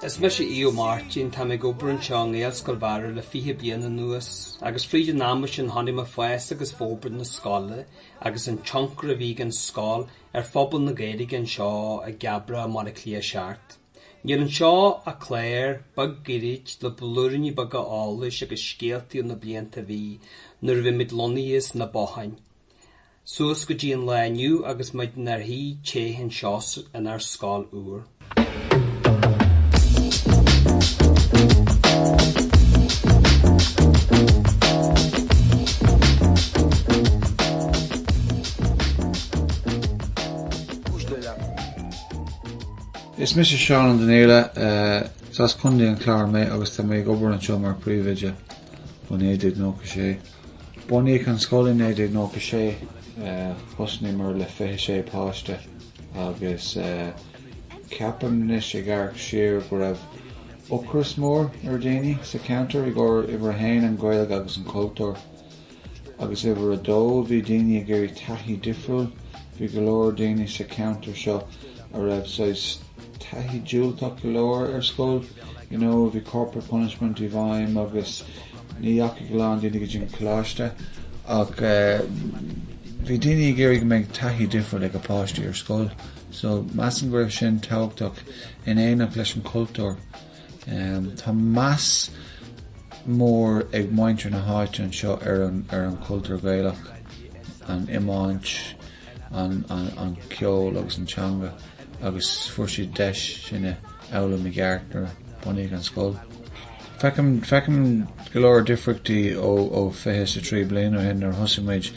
Is mise Aodh Ó Máirtín. Táim ag obair anseo i nGaelscoil Bharra le fiche bliain anuas agus fríd an ama sin chonaic mé fás agus forbairt na scoile agus an tionchar a bhí ag an scoil ar phobal na Gaeilge anseo i gCabrach i mBaile Átha Cliath seart. Níl anseo ach clár beag gairid le blúiríní beaga eolais agus scéaltaí na blianta a bhí nuair a bhí muid lonnaithe sna botháin. Suas go dtí an lá inniu agus muid inár suí thart anseo inár scoil úr. Is mise Seán Ó Donaile. Is as Contae an Chláir mé agus tá mé ag obair anseo mar príomhoide ó 1996. Bunaíodh an scoil i 1996. Thosaíomar le 26 páiste agus ceapaim anois ag amharc siar go raibh ocras mór ar dhaoine sa cheantar i gcomhair uimhir a haon, an Ghaeilge agus an cultúr, agus uimhir a dó, bhí daoine ag iarraidh taithí difriúil. Bhí go leor daoine sa cheantar seo a raibh saghas taithí diúltach go leor ar scoil. You know, bhí corporal punishment i bhfeidhm agus ní dheachaigh a lán daoine go dtí an coláiste ach bhí daoine ag iarraidh go mbeadh taithí difriúil ag a bpáistí ar scoil so measaim go raibh sin tábhachtach in éineacht leis an cultúr. Tá meas mór ag muintir na háite anseo ar an cultúr Gaelach, an iomáint, an ceol agus an teanga agus fuair siad deis sin a fhoghlaim i gceart nuair a bunaíodh an scoil. Feicim, feicim go leor difríochtaí ó, ó fiche is a trí bliain ó shin nuair a thosaigh muid.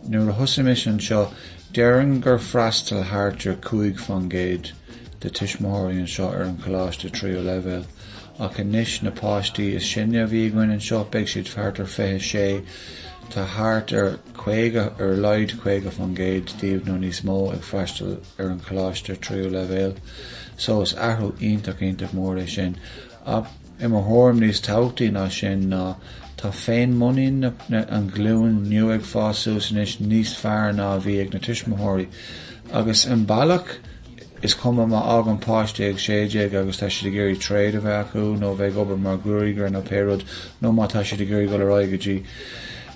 Nuair a thosaigh mise anseo, déarfainn gur fhreastail thart ar cúig faoin gcéad de tuismitheoirí anseo ar an choláiste tríú leibhéal ach anois na páistí is sine a bhí againn anseo, beidh siad thart ar fiche a sé. Tá thart ar. 50, ar a laghad 50% díobh nó níos mó ag freastal ar an choláiste tríú leibhéal, so is athrú iontach iontach mór é sin. Ach i mo thuairim níos tábhachtaí ná sin ná, tá féinmhuinín na, an ghlúin nua ag fás suas anois níos fearr ná a bhí ag na tuismitheoirí. Agus i mbealach, is cuma má fhágann páiste ag sé déag agus tá siad ag iarraidh trade a bheith acu nó bheith ag obair mar gruagaire nó pé rud nó má tá siad ag iarraidh dul ar aghaidh go dtí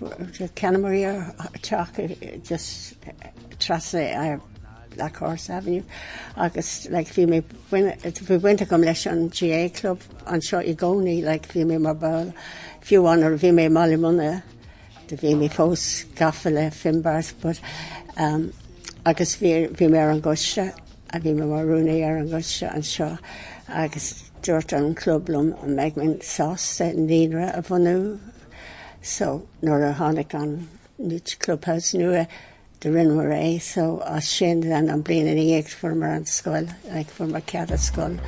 Cheannaíomar teach just trasna Black Horse Avenue agus like bhí mé bhí baint agam leis an GAA club anseo i gcónaí like bhí mé mar ball fiú amháin nuair a bhí mé i mBaile Munna do bhí mé fós gafa le Finbarrs but umm agus bhí bhí mé ar an gcoiste a bhí mé mar rúnaí ar an gcoiste anseo agus dúirt an club liom an mbeidh mé sásta naíonra a bhunú so nuair a tháinig an new clubhouse nua do rinneamar é so as sin then an bliain ina dhiaidh fuaireamar an scoil like fuaireamar cead as scoil.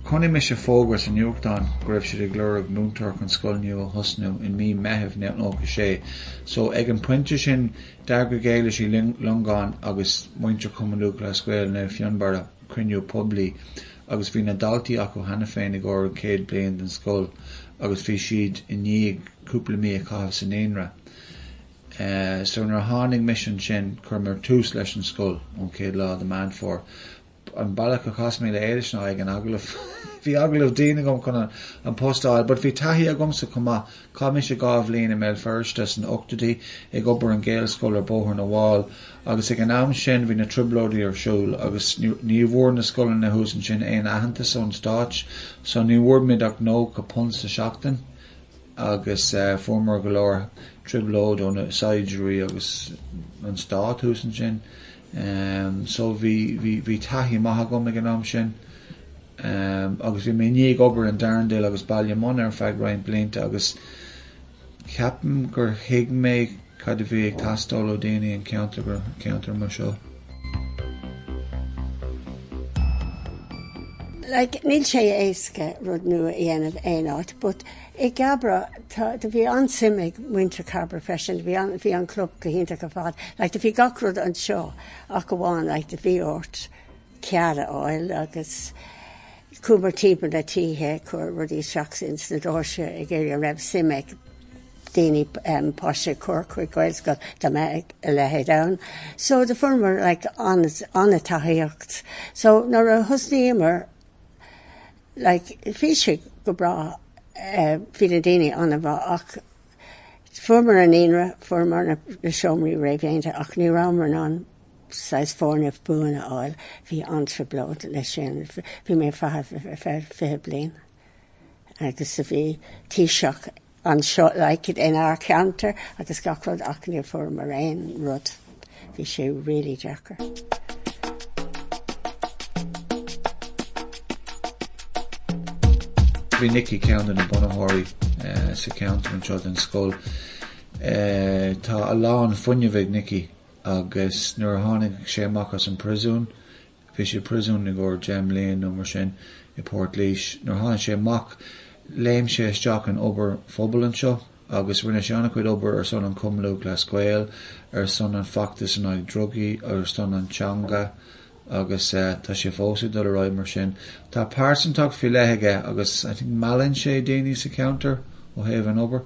Chonaic mise fógra sa nuachtán go raibh siad ag lorg múinteoir chun scoil nua a thosnú i mí Meithimh 1996 so ag an pointe sin D'eagraigh Éilis Uí Longáin agus muintir Chumann Lúthchleas Gael Naomh Fionnbarra cruinniú poiblí agus bhí na daltaí acu cheana féin i gcomhair an chéad bliain den scoil agus bhí siad i ndiaidh cúpla mí a chaitheamh sa naíonra. So nuair a tháinig mise ansin chuireamar tús leis an scoil ón chéad lá de Meán Fómhair. an bealach a chas mé le Éilis ná ag an agallamh. Bhí agallamh dian agam chun an post a fháil but bhí taithí agamsa chomh maith. Chaith mise dhá bhliain i mBéal Feirste san ochtóidí ag obair an Gaelscoil ar Bhóthar na bhFál agus ag an am sin bhí na trioblóidí ar siúl agus ní bhfuair na scoileanna thuas ansin aon aitheantas ón stáit so ní bhfuair muid ach £90 sa seachtain agus fuaireamar go leor trioblóid ó na saighdiúirí agus an stát thuas ansin. So bhí taithí maith agam ag an am sin agus bhí mé i ndiaidh obair in Darndale agus Ballymun ar feadh roinnt blianta agus ceapaim gur thuig mé cad a bhí ag teastáil ó daoine an cheantair ceantar mar seo. Like níl sé éasca rud nua a dhéanamh aon áit but. I gCabra do bhí an-suim ag muintir Chabra freisin, bhí an, bhí an club go hiontach ar fad. Like, do bhí gach rud anseo ach amháin, like, do bhí ort cead a fháil agus chuamar timpeall na tithe ag cur rudaí isteach ins na doirse ag iarraidh an raibh suim ag daoine em páistí a chur chuig Gaelscoil dá mbeadh a leithéid ann. So do fuaireamar like an-tacaíocht. So nuair a thosnaíomar, like, bhí sé go breá, eh, bhí na daoine an-mhaith ach fuaireamar an naíonra, fuaireamar na, na seomraí réamhdhéanta ach ní rabhamar in ann saghas foirgneamh buan a fháil, bhí an-trioblóid leis sin. Bhí mé ag feitheamh ar feadh fiche bliain agus a bhí Taoiseach anseo like it in ár cheantar agus gach rud ach níor fuair mar aon rud. Bhí sé really deacair. Bhí Nicky ceann de na bunaitheoirí sa cheantar anseo den scoil. Tá a lán fuinnimh ag Nicky agus nuair a tháinig sé amach as an príosún Bhí sé i bpríosún i gcomhair deich mblian nó mar sin i bPort Laois. Nuair a tháinig sé amach léim sé isteach in obair phobail anseo agus rinne sé an-chuid obair ar son an Cumann Lúthchleas Gael, ar son an feachtas in aghaidh drugaí ar son an teanga agus tá sé fós ag dul ar aghaidh mar sin. Tá pearsantacht faoi leith aige agus I think meallann sé daoine sa cheantar ó thaobh an obair.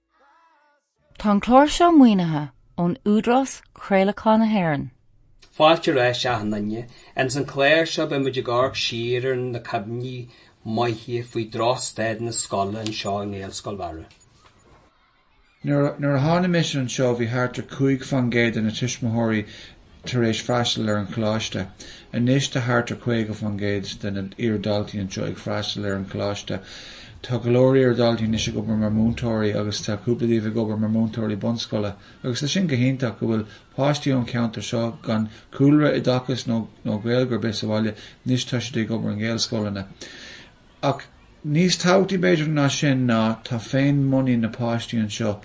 Tá an clár seo maoinithe ón Údarás Craolacháin na hÉireann. Fáilte ar ais a sheandaoine. San clár seo beimid ag amharc siar ar na cuimhní maithe faoi drochstaid na scoile anseo i nGaelscoil Bharra. Nuair a tháinig mise anseo bhí thart ar 5 fán gcéad de na tuismitheoirí tar éis freastal ar an Choláiste. Anois tá thart ar 50% de na iar-dhaltaí anseo ag freastal ar an Choláiste. Tá go leor iar-dhaltaí anois ag obair mar mhúinteoirí agus tá cúpla díobh ag obair mar mhúinteoirí bunscoile agus tá sin go hiontach, go bhfuil páistí ón cheantar seo gan cúlra oideachais nó Gaeilge ar bith sa bhaile, anois tá siad ag obair i nGaelscoileanna. Ach níos tábhachtaí b'fhéidir ná sin ná tá féin muinín na páistí anseo,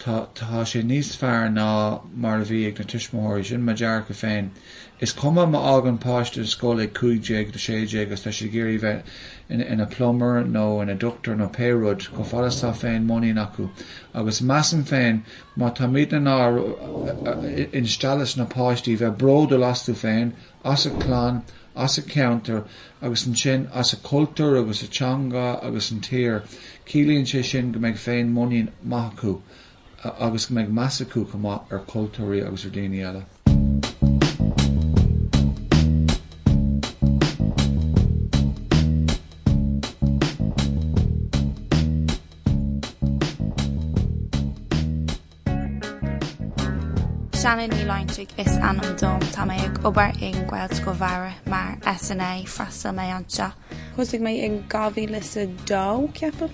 tá tá sé níos fearr ná mar a bhí ag na tuismitheoirí, sin mo dearcadh féin. Is cuma má fhágann páiste scoil ag cúig déag nó sé déag is tá siad ag iarraidh bheith ina plumber nó ina doctor nó pé rud, chomh fada 's tá féin muinín acu. Agus measaim féin má táimid in ann instealladh sna páistí bheith bródúil astu féin as a clann, as a ceantar agus ansin as a cultúr agus a teanga agus an tír. Ciallaíonn sé sin go mbeidh féin muinín maith acu agus go mbeidh meas acu chomh maith ar chultúirí agus ar dhaoine eile. Shannon Ní Loingsigh is ainm dom. Tá mé ag obair i nGaelscoil Bharra mar SNA. Freastal mé anseo. Thosaigh mé in 2002, ceapaim,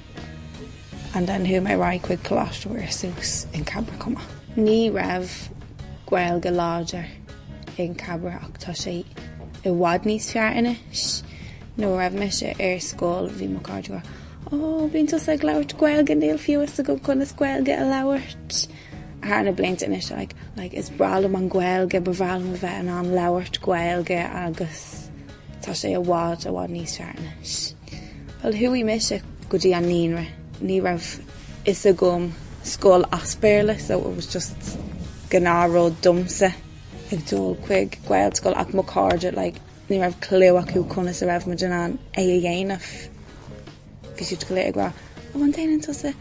and then chuaigh mé right chuig Coláiste Mhuire suas in Cabra chomh maith. Ní raibh Gaeilge láidir in Cabra ach tá sé i bhfad níos fearr anois. Nuair a raibh mise ar scoil bhí mo cairde go. Ó, bíonn tusa ag labhairt Gaeilge, níl fhios agam conas Gaeilge a labhairt. Thar na blianta anois, like, like, is breá liom an Ghaeilge, ba bhreá liom a bheith in ann labhairt Gaeilge agus tá sé i bhfad, i bhfad níos fearr anois. Bhuel, chuaigh mise go dtí an naíonra, ní raibh fhios agam scoil as Béarla, so it was just gnáthrud domsa ag dul chuig Gaelscoil ach mo chairde, like, Ní raibh clue acu conas a raibh muid in ann é a dhéanamh. Bhí siad go léir ag rá, ó an déanann tusa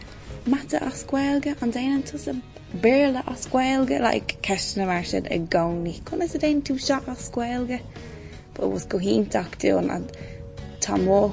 mata as Gaeilge, an déanann tusa Béarla as Gaeilge, like ceisteanna mar sin i gcónaí. Conas a déanann tú seo as Gaeilge? But it was go hiontach dúinn and tá mo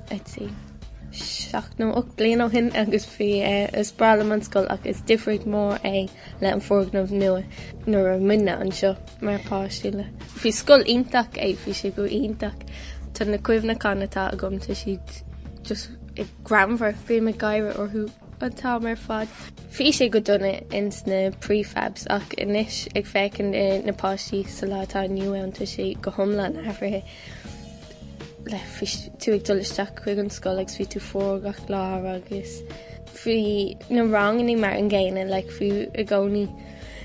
Seacht nó ocht bliain ó shin agus bhí is breá liom an scoil ach is difríocht mhór é le an foirgneamh nua nuair a muidne anseo mar páistí le. Bhí scoil iontach é bhí sé go iontach. Tá na cuimhneachán atá agam tá siad just greannmhar. Bím ag gáire orthu an t-am ar fad. Bhí sé go dona ins na prefabs ach anois ag féachaint ar na páistí sa lá atá inniu ann tá sé go hiomlán athraithe. Bhí tú ag dul isteach chuig an scoil agus bhí tú fuar gach lá agus bhí na ranganna mar an gcéanna like bhí i gcónaí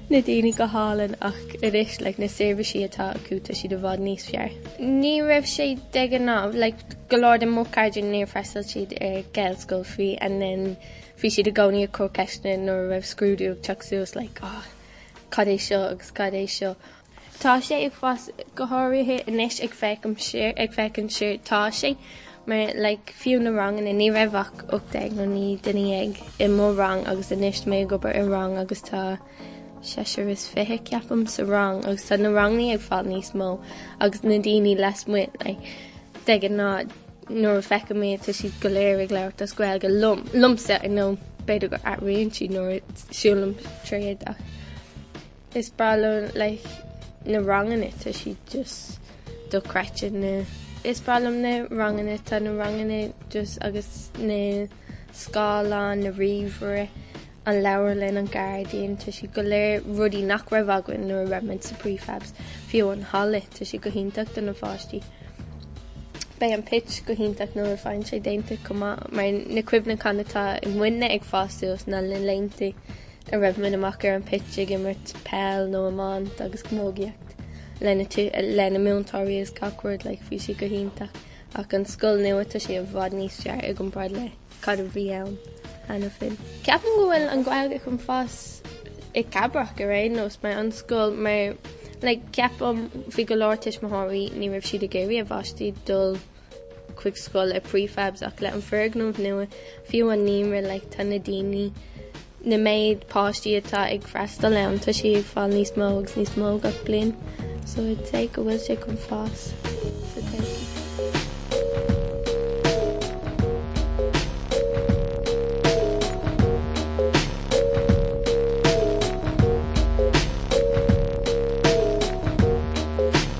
na daoine go hálainn ach anois like na seirbhísí atá acu tá siad i bhfad níos fearr. Ní raibh sé de ghnáth like go leor de mo chairde níor freastal siad ar Gaelscoil and then bhí siad i gcónaí ag cur ceisteanna nuair a raibh scrúdú ag teacht suas like oh cad é seo agus cad é seo. Tá sé ag fás go háirithe anois ag féachaint siar, tá sé, mar, like, fiú na ranganna, ní raibh ach 18 nó 19 duine i mo rang agus anois tá mé ag obair i rang agus tá seisear is fiche, ceapaim, sa rang agus tá na ranganna ag fáil níos mó agus na daoine lasmuigh, like, de ghnáth nuair a feiceann mé tá siad go léir ag labhairt as Gaeilge liom, liomsa, I know, b'fhéidir gur athraíonn siad nuair a siúlaim tríd ach. Is breá liom like na ranganna tá siad just dochreidte na. Is breá liom na ranganna tá na ranganna just agus na scáileáin na ríomhaire an leabharlann an gairdín tá siad go léir rudaí nach raibh againn nuair a raibh muid sa prefabs fiú an halla tá siad go hiontach do na pháistí beidh an pitch go hiontach nuair a faigheann sé déanta chomh maith mar na cuimhneacháin atá ag muidne ag fás suas na laethanta a raibh muid amach ar an pitch ag imirt peil nó iomáint agus camógaíocht leis na múinteoirí is gach rud like bhí sé go hiontach ach an scoil nua tá sé i bhfad níos fearr i gcomparáid le cad a bhí ann cheana féin. Ceapaim go bhfuil an Ghaeilge chun fás i gCabrach ar aon nós mar an scoil mar like ceapaim bhí go leor tuismitheoirí ní raibh siad ag iarraidh a bpáistí dul chuig scoil i prefabs ach le an foirgneamh nua fiú an naíonra like tá na daoine na méid páistí atá ag freastal ann tá sí ag fáil níos mó agus níos mó gach bliain so I'd say go bhfuil sé chun fás sa todhchaí.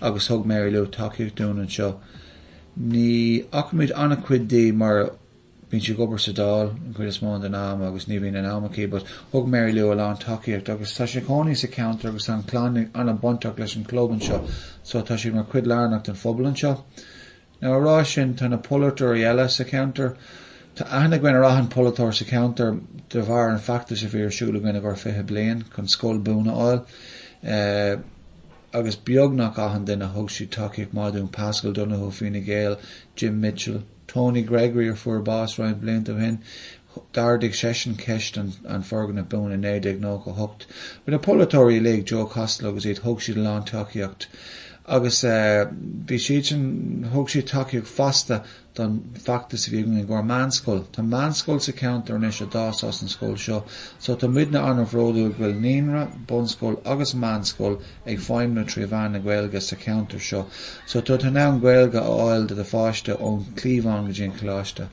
agus thug Mary Lou tacaíocht dúinn anseo. Ní fhacaimid an-chuid di mar bíonn sí ag obair sa Dáil an chuid is mó den am agus ní bhíonn an am aici, but thug Mary Lou a lán tacaíocht agus tá sí cónaí sa ceantar agus an clann an-bhainteach leis an club anseo, so tá siad mar chuid lárnach den phobal anseo. Now ag rá sin tá na polaiteoirí eile sa cheantar, tá aithne againn ar achan pholaiteoir sa cheantar de bharr an feachtas a bhí ar siúl againn i gcomhair 20 bliain chun scoil buan a fháil agus beagnach achan duine thug siad tacaíocht maith dúinn, Paschal Donohoe, Fine Gael, Jim Mitchell, Tony Gregory a fuair bás roinnt blianta ó shin, D'ardaigh seisean ceist an foirgnimh buan i 1998. Bhí na polaiteoirí uilig, Joe Costello agus iad, thug siad a lán tacaíocht agus bhí siadsan, thug siad tacaíocht fosta don feachtas a bhí againn i gcomhair meánscoil. Tá meánscoil sa cheantar anois a d'fhás as an scoil seo so tá muidne an-bhródúil go bhfuil naíonra, bunscoil agus meánscoil ag feidhmniú trí mheán na Gaeilge sa cheantar seo so tá tú in ann Gaeilge a fháil do do pháiste ón chliabhán go dtí an coláiste.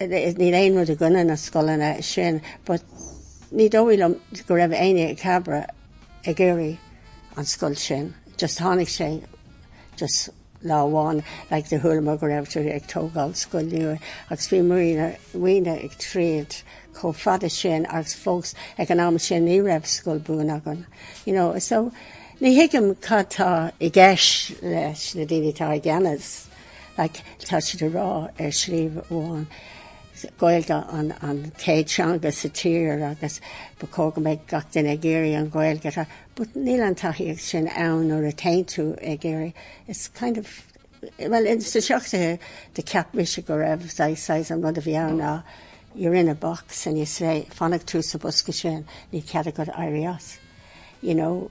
Níl aon rud i gcoinne na scoileanna sin but ní dóigh liom go raibh éinne i Cabra ag iarraidh an scoil sin, just tháinig sé just lá amháin like do chualamar go raibh tú ag tógáil scoil nua agus bhí muidne ag troid chomh fada sin agus fós ag an am sin ní raibh scoil buan againn you know so ní thuigim cad tá i gceist leis na daoine tá i gceannas. Like, tá siad ag rá ar slí amháin, Gaeilge an céad teanga sa tír agus ba chóir go mbeidh gach duine ag iarraidh an Ghaeilge a rá, but níl an tacaíocht sin ann nuair a téann tú ag iarraidh, it's kind of, bhuel ins na seachtóidí do cheap mise go raibh saghas saghas an rud a bhí ann ná you're in a box and you say fanfaidh tú sa bosca sin níl cead agat éirí as, you know.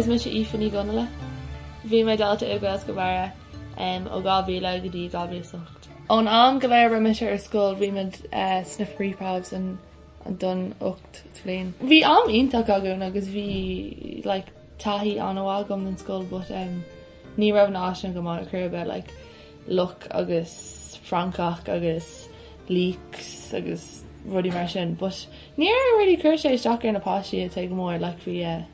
Is mise Aoife Ní Dhonnghaile. Bhí mé dalta i Gaelscoil Bharra ó 2000 go dtí 2008. Ón am go léir a raibh mise ar scoil bhí muid sna prefabs an don ocht mbliain. Bhí am iontach againn agus bhí like taithí an-mhaith agam don scoil but umm ní raibh na háiseanna go maith ar chor ar bith like luch agus francach agus leaks agus rudaí mar sin but níor really cuir sé isteach ar na páistí i dtaobh go mór like bhí yeah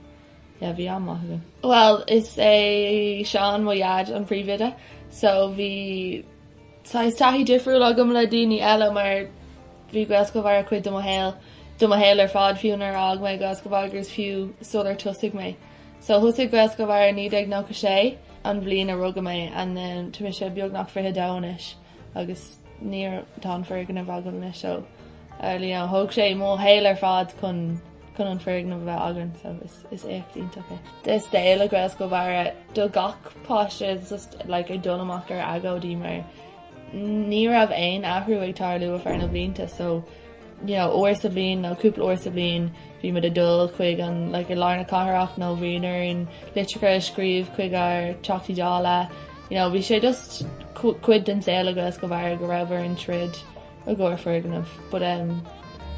yeah bhí am maith againn. Bhuel is é Seán mo dhaid an príomhoide so bhí Tá is taithí difriúil agam le daoine eile mar bhí Gaelscoil Bharra cuid de mo shaol, de mo shaol ar fad, fiú nuair a fhág mé Gaelscoil Bharra agus fiú sular tosaigh mé. So thosaigh Gaelscoil Bharra i 1996, an bhliain a rugadh mé and then tá mise beagnach 22 anois agus níor, tá an foirgneamh againn anois so, you know, thóg sé mo shaol ar fad chun, Chun an foirgneamh a bheith againn so is is éacht iontach é. de saol i Gaelscoil Bharra do gach páiste is just like ag dul amach ar agóidí mar ní raibh aon athrú ag tarlú thar na blianta so you know uair sa bhliain nó cúpla uair sa bhliain bhí muid ag dul chuig an like i lár na cathrach nó bhí orainn litreacha a scríobh chuig ár Teachtaí Dála you know bhí sé just cu cuid den saol i Gaelscoil Bharra go raibh orainn troid i gcomhair foirgnimh but um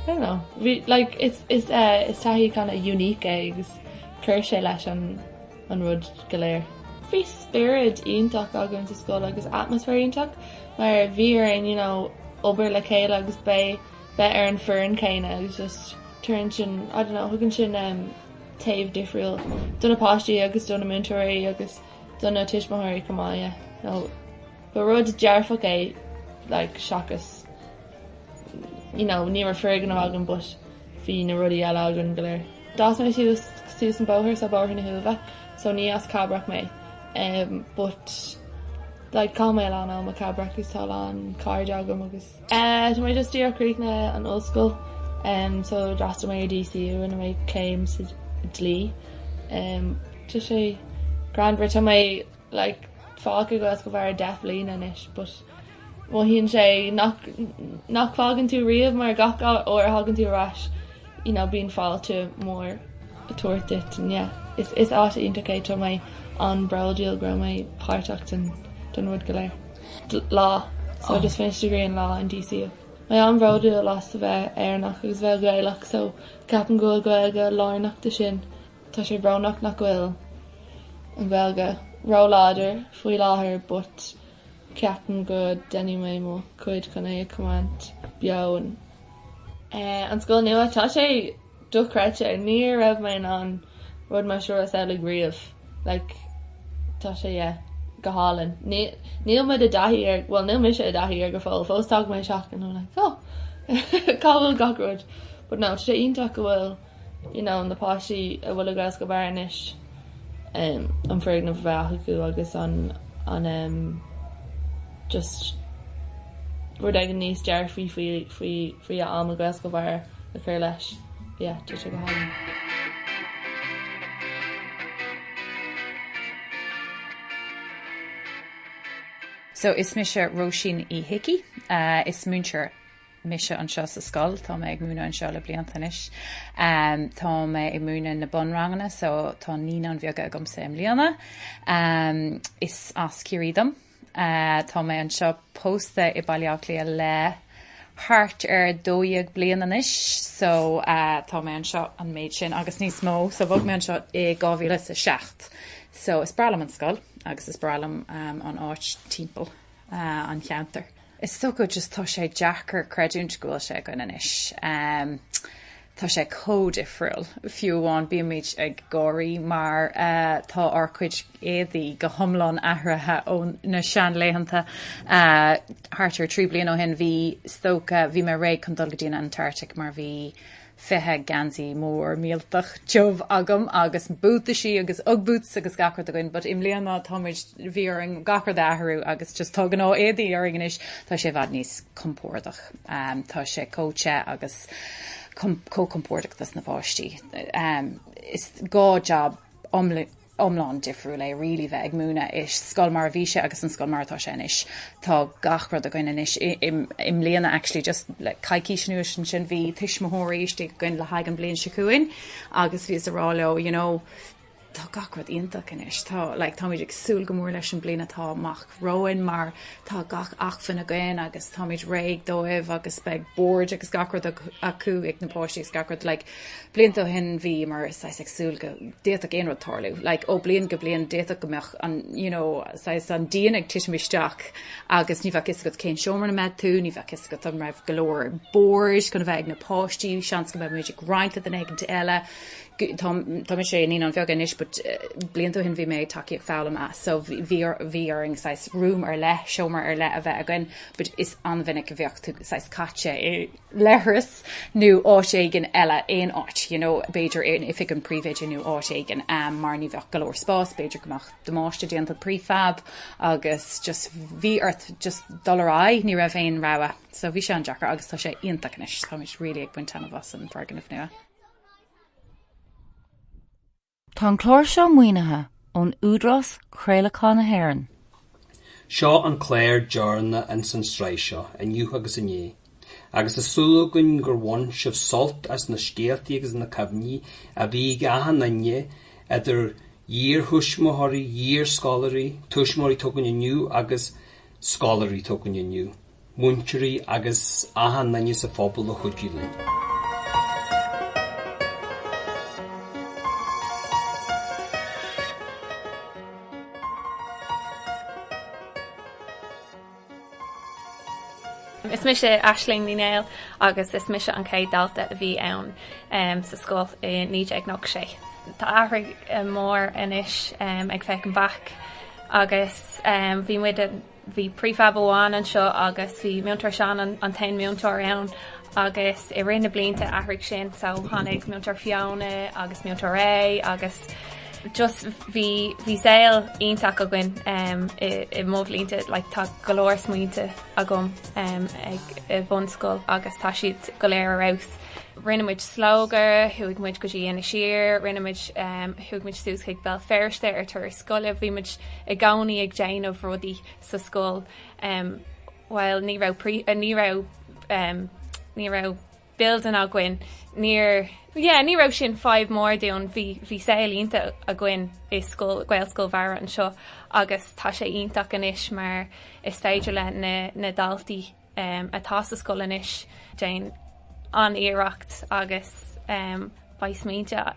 I don't know bhí like is is eh is taithí kind of unique é agus chuir sé leis an an rud go léir. Bhí spiorad iontach againn sa scoil agus atmosphere iontach mar bhí orainn you know obair le chéile agus b bheith ar an foireann céanna agus just tar éis sin I don't know thugann sin em taobh difriúil do na páistí agus do na múinteoirí agus do na tuismitheoirí chomh maith yeah so. Ba rud dearfach é like seachas you know ní raibh foirgneamh againn but bhí na rudaí eile againn go léir. D'fhás mé suas suas an bóthar so Bóthar na hUaimhe so ní as Cabrach mé em but like chaith mé a lán am i Cabrach agus tá a lán cairde agam agus. Eh tá mé just tar éis críochnú an ollscoil em so d'fhreastail mé ar DCU rinne mé céim sa dlí em tá sé greannmhar tá mé like fágtha Gaelscoil Bharra deich mbliana anois but mothaíonn sé nach nach bhfágann tú riamh mar gach uair a thagann tú ar ais you know bíonn fáilte mór ag tabhairt duit and yeah is is áit iontach é tá mé an-bródúil go raibh mé páirteach den den rud go léir. Law so I just finished a degree in law in DCU. Mé an-bhródúil as a bheith Éireannach agus a bheith Gaelach so ceapaim go bhfuil Gaeilge lárnach de sin. Tá sé brónach nach bhfuil an Ghaeilge róláidir faoi láthair but ceapaim go ndéanfaidh mé mo chuid chun é a choimeád beo. An scoil nua. Tá sé dochreidte. Ní raibh mé in ann rud mar seo a shamhlú riamh. Like tá sé yeah go hálainn. Níl mé i dtaithí air, bhuel níl mise i dtaithí air go fóill. Fós tagann mé isteach and I'm like oh cá bhfuil gach rud. But no tá sé iontach go bhfuil. You know, na páistí a bhfuil i gCaelscoil Bharra anois, an foirgneamh a bheith acu agus an an em just rud éigin níos dearfaí faoi faoi faoi a am i gCaelscoil Bharra le cur leis. Yeah, tá sé go hálainn. So is mise Róisín Uí hIcí. Is múinteoir. mise anseo sa scoil, tá mé ag múineadh anseo le blianta anois. Tá mé ag múineadh na bunranganna so tá naíonáin bheaga agamsa i mbliana. Is as Ciarraí dom. Tá mé anseo pósta i Baile Átha Cliath le thart ar dó dhéag bliain anois so tá mé anseo an méid sin agus níos mó so bhog mé anseo i dhá mhíle is a seacht. So is breá liom an scoil agus is breá liom an áit timpeall an cheantair. Is dócha just tá sé deacair creidiúint go bhfuil sé againn anois. Tá sé chomh difriúil. Fiú amháin bímid ag gáire mar tá ár cuid éadaí go hiomlán athraithe ó na seanlaethanta. Thart ar trí bliain ó shin bhí, is dócha, bhí mé réidh chun dul go dtí an Antartaic mar bhí, 20 geansaí mór mílteach tiubh agam agus buataisí agus Ugg boots agus gach rud againn, but i mbliana tá muid, bhí orainn gach rud a athrú agus just tá gnáthéadaí orainn anois, tá sé i bhfad níos compordach. Tá sé chomh te agus chomh compordach dos na páistí. Is dhá jab iomlán. iomlán difriúil é really bheith ag múineadh sa scoil mar a bhí sé agus an scoil mar atá sé anois. Tá gach rud againn anois i mbliana actually just le coicís anuas ansin bhí tuismitheoirí istigh againn le haghaidh an bhliain seo chugainn agus bhíos ag rá leo you know tá gach rud iontach anois tá like táimid ag súil go mór leis an bliain atá amach romhainn mar tá gach acmhainn againn agus táimid réidh dóibh agus beidh boird agus gach rud acu ag na páistí agus gach rud like Blianta ó shin bhíomar saghas ag súil go d'fhéadfadh aon rud tarlú. Like, ó bliain go bliain d'fhéadfadh go mbeadh an, you know, saghas an díon ag titim isteach agus ní bheadh fhios agat cén seomra ina mbeadh tú, ní bheadh fhios agat an raibh go leor boird chun a bheith ag na páistí, seans go mbeadh muid ag roinnt le duine éigint eile. So, tá, tá mise i naíonáin bheaga anois but blianta ó shin bhí mé ag tacaíocht foghlama so bhí, bhí, bhí orainn saghas room ar leith, seomra ar leith a bheith againn but is an-mhinic a bheadh tú saghas caite i, leithreas nó áit éigin eile, aon áit, you know, b'fhéidir in oifig an phríomhoide nó áit éigin, mar ní bheadh go leor spás, b'fhéidir go mbeadh damáiste déanta don prefab agus just bhí ort just dul ar aghaidh, ní raibh aon rogha. So bhí sé an-deacair agus tá sé iontach anois, táimid really ag baint taitneamh as an bhfoirgneamh nua. Tá an clár seo maoinithe ón Údarás Craolacháin na hÉireann. Seo an clár deireanach ins an sraith seo, inniu agus inné, agus tá súil againn gur bhain sibh sult as na scéaltaí agus na cuimhní a bhí ag achan nduine, idir iarthuismitheoirí, iarscoláirí, tuismitheoirí atá againn inniu agus scoláirí atá againn inniu. múinteoirí agus achan nduine sa phobal a chuidigh linn. Is mise Aisling Ní Néill agus is mise an chéad dalta a bhí ann sa scoil i 1996. Tá athrú mór anois ag féachaint back agus bhí muid Bhí prefab amháin anseo agus bhí Múinteoir Seán an t-aon múinteoir ann agus i rith na blianta athraigh sin so tháinig Múinteoir Fiona agus Múinteoir Ray agus just bhí bhí saol iontach againn i i mo bhlianta like tá go leor smaointe agam ag i bhunscoil agus tá siad go léir ar fheabhas. Rinne muid Slógadh, chuaigh muid go dtí Inis Oírr, rinne muid, chuaigh muid suas chuig Béal Feirste ar turas. scoile. Bhí muid i gcónaí ag déanamh rudaí sa scoil. Bhuel ní raibh ní raibh ní raibh building againn. Níor yeah ní raibh sin fadhb mór dúinn. Bhí bhí saol iontach againn i scoil Gaelscoil Bharra anseo agus tá sé iontach anois mar is féidir le na na daltaí atá sa scoil anois. Déanann iarracht agus beidh smaointe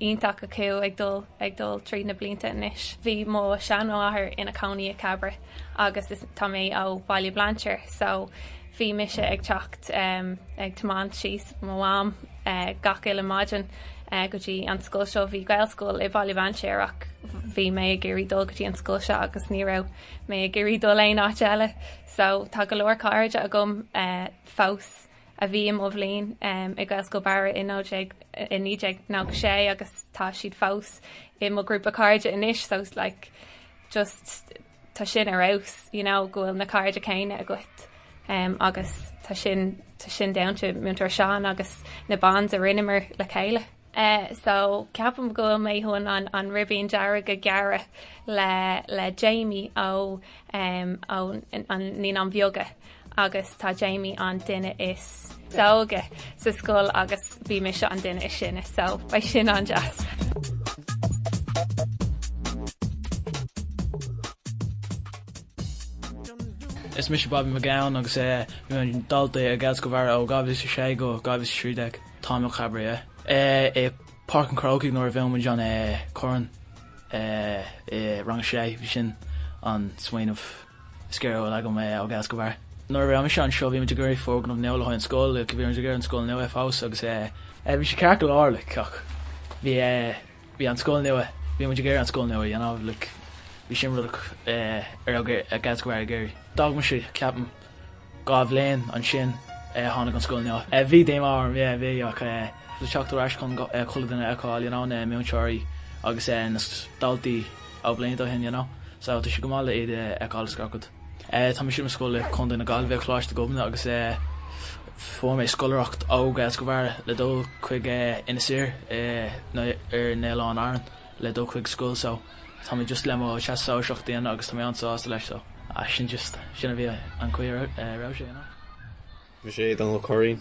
iontach acu ag dul ag dul tríd na blianta anois. Bhí mo sheanmháthair ina cónaí i Cabra agus is tá mé ó Bhaile Bhlainséir so bhí mise ag teacht ag tiomáint síos mo mham gach uile maidin go dtí an scoil seo. Bhí Gaelscoil i Baile Bhlainséir ach bhí mé ag iarraidh dul go dtí an scoil seo agus ní raibh mé ag iarraidh dul aon áit eile. so tá go leor cairde agam fós a bhí i mo bhliain i Gaelscoil Bharra i 1996 agus tá siad fós i mo ghrúpa cairde anois so it's like just tá sin ar fheabhas you know go bhfuil na cairde céanna agat agus tá sin tá sin down to múinteoir Seán agus na bonds a rinneamar le chéile. eh so ceapaim go bhfuil mé chun an an an ribín dearg a gearradh le le Jamie ó em ó an naíonáin bheaga agus tá Jamie an duine is óige sa scoil agus bhí mise an duine is sine so beidh sin an-deas. Is mise Bobby McGowan agus eh bhí mé dalta i Gaelscoil Bharra ó 2006 go 2013. Tá mé ó Cabra eh i Páirc an Chrócaigh nuair a bhuaigh muid an Corn i rang a sé bhí sin an smaoineamh is géire a bhfuil agam eh ó Gaelscoil Bharra. Nuair a raibh mise anseo bhí muid ag iarraidh foirgneamh nua le haghaidh an scoil, bhí muid ag iarraidh an scoil nua a fháil agus eh bhí sé ceart go leor like ach bhí eh Bhí an scoil nua, bhí muid ag iarraidh an scoil nua a dhéanamh, like, bhí sin rud a raibh Gaelscoil Bharra ag iarraidh. D'fhág mise, ceapaim, dhá bhliain sular tháinig an scoil nua. Eh, bhí díomá orm, yeah, bhí ach eh, le teacht ar ais chun chuile duine a fheiceáil, you know, na múinteoirí agus eh na daltaí ó bhlianta ó shin, you know, so tá sé go maith le iad a fheiceáil is gach rud. Eh, tá mise ar scoil i Contae na Gaillimhe, Coláiste Ghobnait agus eh, Fuair mé scoláireacht ó Gaelscoil Bharra le dul chuig Inis Oírr i nó ar na hOileáin Árann le dul chuig scoil so tá mé just le mo teastas Sóisearach a dhéanamh agus tá mé an-sásta leis so sin just sin a bhí an caoi a raibh sé you know. Mise Dónal Ó Curraoin.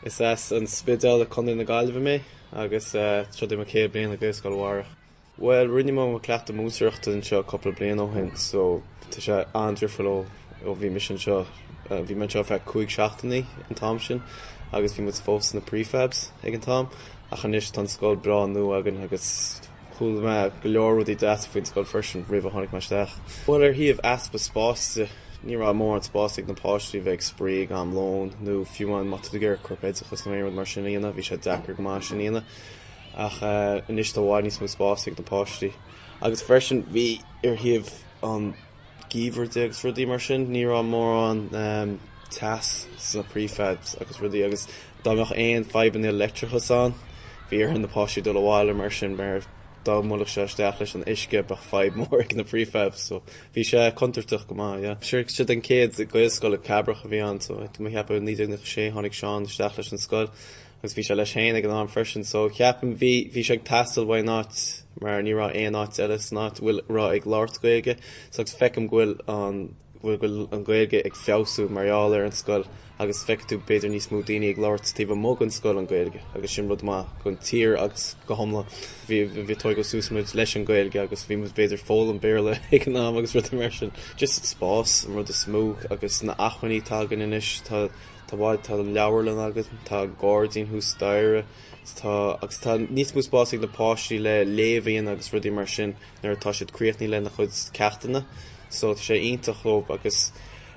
Is as an Spidéal i Contae na Gaillimhe mé agus seo é mo céad bliain i Gaelscoil Bharra. Bhuel, rinne mo mo cleachtadh múinteoireachta anseo cúpla bliain ó shin so tá sé an-difriúil ó ó bhí mise anseo. Bhí mé anseo ar feadh cúig seachtainí an t-am sin agus bhí muid fós sna prefabs ag an t-am ach anois tá an scoil breá nua againn agus chuala mé go leor rudaí deasa faoin scoil freisin roimh ar tháinig mé isteach. Bhuel, ar thaobh easpa spáis de, ní raibh mórán spáis ag na páistí a bheith ag spraoi ag am lóin nó fiú amháin má tá tú ag iarraidh corpoideachas nó aon rud mar sin a dhéanamh, bhí sé deacair go maith sin a dhéanamh. ach anois tá i bhfad níos mó spáis ag na páistí agus freisin bhí ar thaobh an gheimhridh de agus rudaí mar sin ní raibh mórán teas sna prefabs agus rudaí agus dá mbeadh aon fadhbanna leictreachais ann bhí ar na páistí dul abhaile mar sin mar dá mbuailfeadh sé isteach leis an uisce bheadh fadhb mór ag na prefabs so bhí sé contúirteach go maith yeah. Sure sé an chéad gaelscoil i Cabrach a bhí ann so ceapaim i 1996 tháinig Seán isteach leis an scoil Agus bhí sé leis féin ag an am freisin so ceapaim bhí bhí sé ag teastáil uaidh an áit mar ní raibh aon áit eile san áit a bhfuil a raibh ag labhairt Gaeilge so agus feicim go bhfuil an go bhfuil go bhfuil an Ghaeilge ag feabhsú mar gheall ar an scoil agus feicfidh tú b'fhéidir níos mó daoine ag labhairt taobh amuigh den scoil an Ghaeilge agus sin rud maith don tír agus go hiomlán. Bhí bhí tógadh suas muid leis an Ghaeilge agus bhí muid b'fhéidir foghlaim Béarla ag an am agus rudaí mar sin. Just spás an rud is mó agus na hacmhainní atá againn anois tá Tá, bhuel, tá leabharlann agus, tá gairdín thuas staighre, agus tá níos mó spáis ag na páistí le léamh a dhéanamh agus rudaí mar sin nuair atá siad críochnaí lena chuid ceachtanna. So tá sé iontach dhóib agus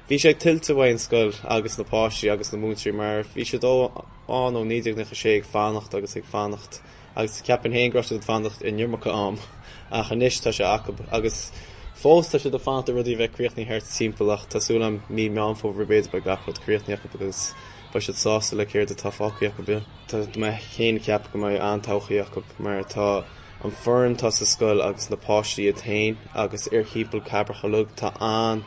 bhí sé tuillte ag an scoil agus na páistí agus na múinteoirí mar bhí siad ann ó 1996 ag fanacht agus ag fanacht. agus ceapaim féin go raibh siad ag fanacht an iomarca am, ach anois tá sé acub, agus fós tá siad ag fanacht ar rudaí a bheith críochnaithe thart timpeall, ach tá súil a'm mí Mheán Fómhair b'fhéidir beidh gach rud críochnaithe acub agus beidh siad sásta le céard atá faighte acub. Tá mé féin ag ceapadh go mbeidh an-todhchaí acub, mar tá an fhoireann atá sa scoil agus na páistí iad féin agus timpeall Chabrach uilig tá an,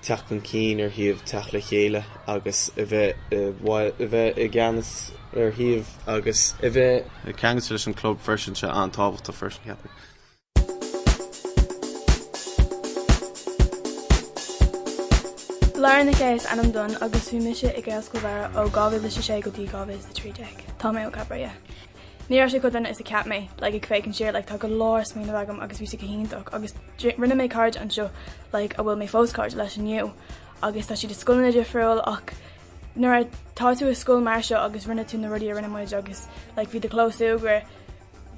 teacht chun cinn ar thaobh teacht le chéile agus a bheith, a bheith i gceannas ar shuíomh agus a bheith ceangailte leis an chlub freisin tá sé an-tábhachtach freisin cheapfainn. Laura Nic Aodh is ainm dom agus bhí mise i Gaelscoil Bharra ó 2006 go dtí 2013. Tá mé ó Cabra. Ní raibh sé chomh dona is a cheap mé, like, ag féachaint siar, like, tá go leor smaoineamh agam agus bhí sé go hiontach agus rinne mé cairde anseo, like, a bhfuil mé fós cairde leis inniu agus tá siad i scoileanna difriúil ach nuair a tá tú i scoil mar seo agus rinne tú na rudaí a rinne muid agus, like, bhí do chlós súgradh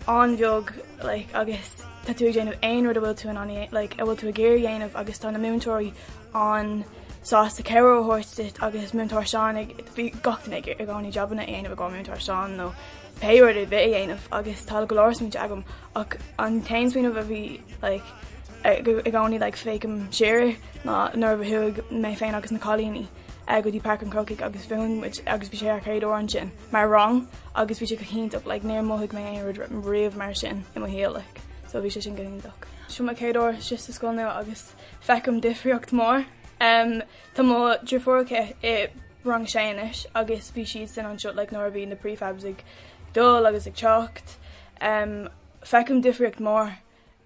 an-bheag, like, agus tá tú ag déanamh aon rud a bhfuil tú in ann, like, a bhfuil tú ag iarraidh a dhéanamh agus tá na múinteoirí an-sásta cabhrú a thabhairt duit agus múinteoir Seán agus bhí gach duine ag i gcónaí jabanna a dhéanamh i gcomhair múinteoir Seán nó pé rud ar bith a dhéanamh agus tá go leor smaointe agam ach an t-aon smaoineamh a bhí like i gcónaí like féachaim siar ná nuair a chuaigh mé féin agus na cailíní go dtí Páirc an Chrócaigh agus bhuaigh muid agus bhí sé ár gcéad uair ansin mar rang agus bhí sé go hiontach like níor mhothaigh mé aon rud riamh mar sin i mo shaol like so bhí sé sin go hiontach. Sin mo chéad uair just sa scoil nua agus Feicim difríocht mór. Tá mo dheirfiúr aici i rang sé anois agus bhí siad san anseo like nuair a bhí na prefabs ag dul agus ag teacht. Feicim difríocht mór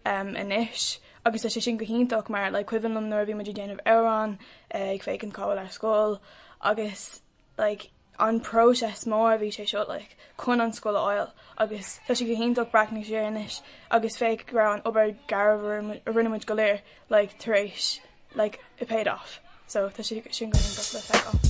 anois agus tá sé sin go hiontach mar like cuimhin liom nuair a bhí muid ag déanamh amhrán ag féachaint cá bhfuil ár scoil agus like, an process mór a bhí sé seo, like, chun an scoil a fháil agus tá sé go hiontach breathnú siar anois agus féach go raibh an obair go léir a rinne muid go léir like, tar éis like, it paid off. So tá sé sin go hiontach le feiceáil.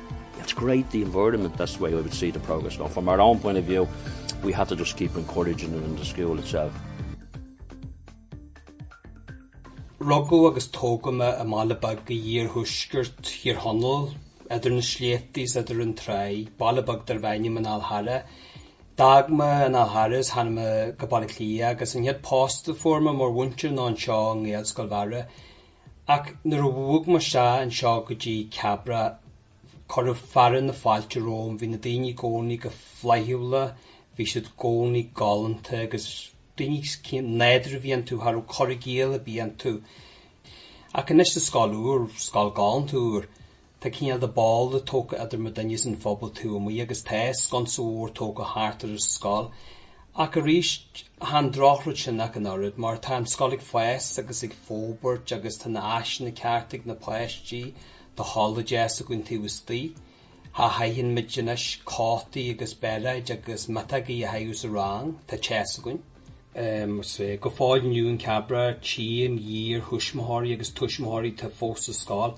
have to create the environment, that's the way I would see the progress going. From our own point of view we have to just keep encouraging it in the school itself. Rugadh agus tógadh mé i mbaile beag in iarthuaisceart Thír Chonaill, idir na sléibhte is idir an tráigh. Baile beag darbh ainm an Fhál Charraigh. D'fhág mé an Fhál Charraigh agus tháinig mé go Baile Átha Cliath agus an chéad post a fuair mé mar mhúinteoir ná anseo i nGaelscoil Bharra. Ach nuair a bhog mé isteach anseo go dtí Cabra, cuireadh fearadh na fáilte romham. Bhí na daoine i gcónaí go flaithiúla, bhí siad i gcónaí galánta agus daoine nádúrtha a bhí iontu, cha raibh cur i gcéill ar bith iontu. Ach anois sa scoil úr, scoil galánta úr, Tá cineál de balla tógtha idir muidinne is an phobal taobh amuigh agus tá sconsa mhór tógtha thart ar an scoil. Ach arís, chan drochrud sin ach an oiread mar tá an scoil ag fás agus ag forbairt agus tá na háiseanna cearta ag na páistí, tá halla deas againn taobh istoigh. Cha chaitheann muid anois cótaí agus bairéid agus miotógaí a chaitheamh sa rang. Tá teas againn. Go fóill inniu in Cabra tím iarthuismitheoirí agus tuismitheoirí atá fós sa scoil.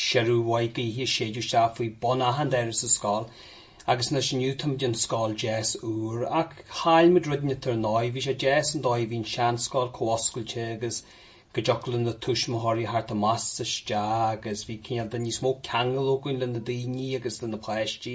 Siorradh maith gaoithe séideadh isteach faoi bun achan doras sa scoil agus anois inniu tá muid in scoil deas úr. Ach chaill muid rud inteacht ar ndóigh, bhí sé deas an dóigh a bhí an seanscoil chomh oscailte agus go dtiocfadh le na tuismitheoirí theacht amach 's isteach agus bhí cineál de níos mó ceangail againn le na daoine agus le na páistí.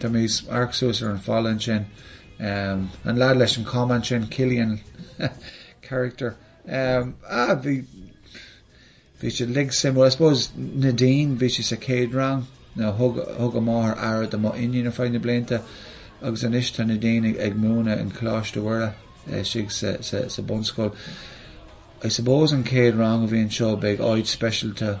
Tá mise ag amharc suas ar an falla ansin. Um, an lad leis an camán sin, Cillian character. Um, ah, bhí, bhí sé lig sim, well, I suppose Nadine, bhí sé sa céad rang, nó no, thug, thug a máthair aire do mo iníon ar feadh na blianta, agus anois tá Nadine ag, ag múineadh in Coláiste Mhuire, uh, eh, istigh sa, sa, sa bunscoil. I suppose an céad rang a bhí anseo beidh áit speisialta